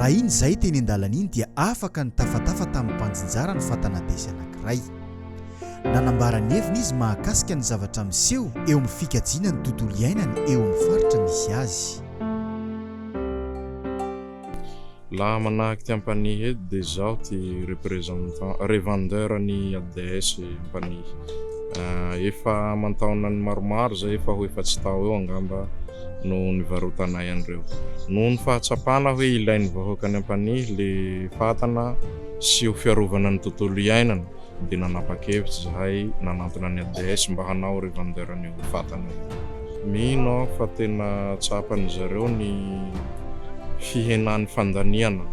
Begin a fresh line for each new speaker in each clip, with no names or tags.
Raha iny izay teny an-dalana iny dia afaka nitafatafa tamin'ny mpanjinjara ny fatana-desy anankiray. Nanambara ny heviny izy mahakasika ny zavatra miseho eo amin'ny fikajiana ny tontolo iainana eo amin'ny faritra misy azy. Laha manahaky ty ampanihy eto de zaho ty représentant, revendeur ny ADS ampanihy. Efa aman-taonany maromaro zay, efa ho efatsy tao eo angamba no nivarotanay an'ireo. Noho ny fahatsapana hoe ilain'ny vahoaka ny ampanihy le fatana sy ho fiarovana ny tontolo iainana, dia nanapa-kevitra izahay nanantona ny ADS mba hanao revendeur an'io fatana io. Mino aho fa tena tsapan'izy ireo ny fihenan'ny fandaniana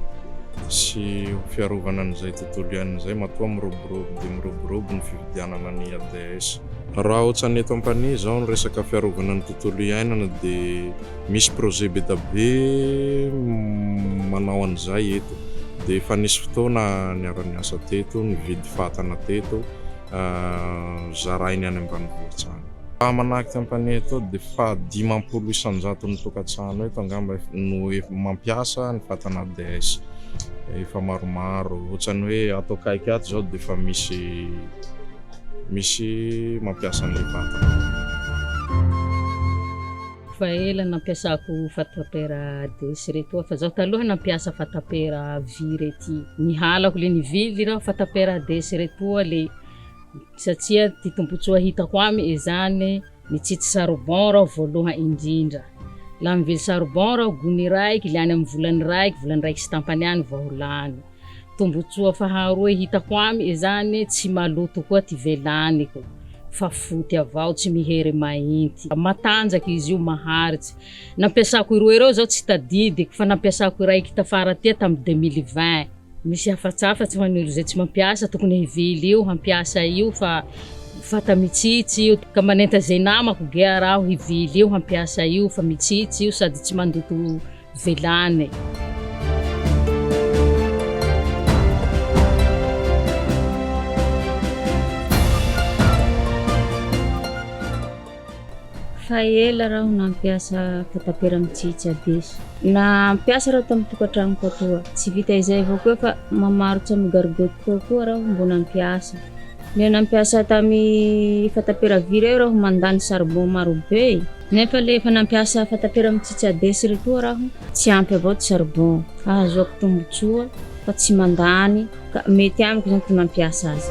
sy ho fiarovana an'izay tontolo iainana izay matoa miroborobo dia miroborobo ny fividianana ny ADS. Raha otsan'ny eto ampanihy izao ny resaka fiarovana ny tontolo iainana dia. Misy projet be da be manao an'izay eto. Dia efa nisy fotoana niara-niasa teto, nividy fatana teto, zarainy any ambanivohitra any. Raha manahaky Compagnie eto dia fahadimampolo isan-jaton'ny tokantrano eto angamba no mampiasa ny fatana ADS. Efa maromaro, ohatrany hoe ato akaiky ato izao dia efa misy misy mampiasa an'ilay fatana. Efa ela nampiasako fatapera Hades reto aho fa zaho taloha nampiasa fatapera vy rety ny halako le nivily raho fatapera Hades retoa le satsia ty tombotsoa hitako amy izany mitsitsy charbon raho voaloha indrindra la mivily charbon raho gony raiky le any amy volany raiky volany raiky sy tampany any vao lany Tombotsoa faharoe hitako amy izany tsy maloto koa ty velaniko fa foty avao tsy mihery mainty. Matanjaka izy io maharitsy. Nampiasako ireo ireo zao tsy tadidiko fa nampiasako iray kita fara tia tam deux mille vingt. Misy hafatsafatsy ho an'olo zay tsy mampiasa tokony hivily io hampiasa io fa fata mitsitsy io ka manenta ze namako gea raho hivily io hampiasa io fa mitsitsy io sady tsy mandoto velany. Fa ela raho nampiasa fatapera amin'ny tsy hitsabesa. Nampiasa raho tamin'ny tokantranoko atoa. Tsy vita izay avao koa fa mamarotra amin'ny gargotte tao koa raho mbo nampiasa. Ilay nampiasa tamin'ny fatapera vy ireo raho mandany charbon marobe. Nefa le efa nampiasa fatapera mitsitsy abesy re toa raho tsy ampy avao ty charbon ahazoako tombotsoa fa tsy mandany ka mety amiko zany ty mampiasa azy.